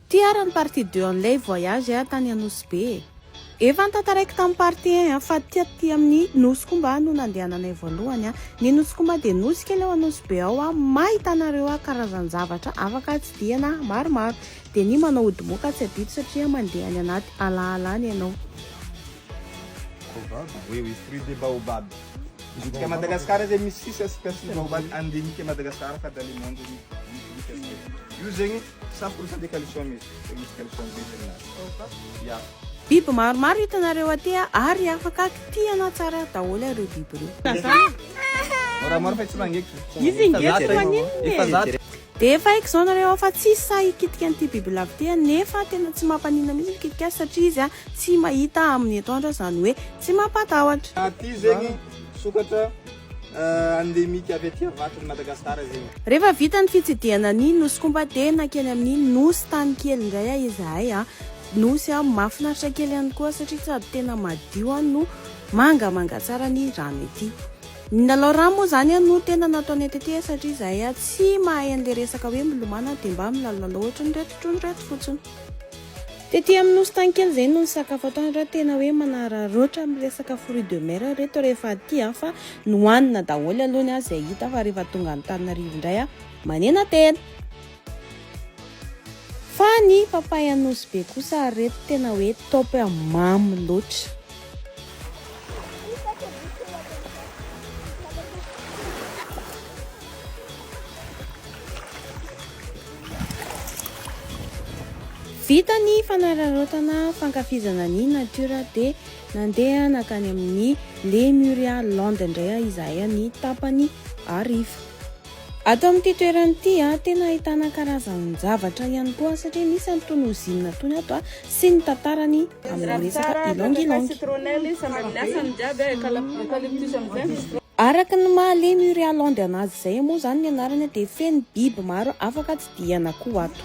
Ty ara ny partie deux an'ilay voyage a tany Anosy be e. Efa notantaraiko tamin'ny partie un a fa taty amin'ny Nosy Komba no nandehananay voalohany a. Ny Nosy Komba dia nosy kely ao Anosy be ao a, mahitanareo a karazan-javatra afaka atsidihana maromaro. Dia ny manao ody moka tsy adito satria mandeha any anaty ala ala any ianao. Baobab? Oui oui, fruit de baobab. Midika Madagascar zay misy sisa espèce ny baobab, andinika Madagascar fa dans le monde misy, misy sisa. Io zegny Biby maromaro hitanareo aty ary afaka kitihana tsara daholo ireo biby ireo. Dia efa haiko izao nareo fa tsy sahy hikitika an'ity bibilava ity aho nefa tena tsy mampaninona mihitsy mikitika azy satria izy tsy mahita amin'ny etoandro izany hoe tsy mampatahotra. Endemique avy aty Avaton'i Madagascar zegny. Rehefa vita ny fitsidihana ny Nosy Komba dia nankeny amin'ny Nosy Tany kely indray a izahay a. Nosy a mahafinaritra kely ihany koa satria sady tena madio a no mangamanga tsara ny rano ety. Ny lalao rano moa izany a no tena nataonay tety a satria izahay a tsy mahay an'le resaka hoe milomano a dia mba milalolalao ohatrin'ireto trondro ireto fotsiny. Tety amin'ny nosy tany kely izay no nisakafo ato any ra tena hoe manararaotra amin'ny resaka fruit de mer ry reto rehefa aty an fa nohanina daholo aloha ny ahy izay hita fa rehefa tonga antananarivo indray aho manena tena fa ny papay anosy be kosa ry reto tena hoe top e mamy loatra Vita ny fanararaotana fankafizana ny natiora dia nandeha nankany amin'ny Lemuria Land indray izahay ny tapany hariva. Ato amin'ity toerana ity tena ahitana karazan-javatra ihany koa satria misy an'itony ozinina itony ato. sy ny tantarany amin'ilay resaka Ylang Ylang. Araka ny maha lemy io Realande anazy izay moa izany ny anarany dia feno biby maro afaka tsidihana koa ato.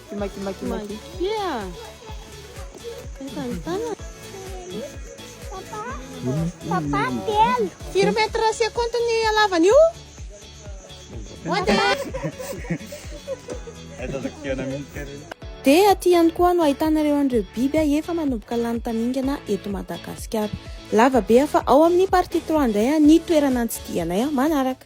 Ki ma ki ma ki ma ki. Kia. Eka ny tana. Papa. Papa telo. Firy mètre c'est compte ny alavany io? Dia aty ihany koa no ahitanareo an'ireo biby efa manomboka lany tamingana eto Madagasikara. Lava be aho fa ao amin'ny partie trois indray ny toerana nitsidihanay manaraka.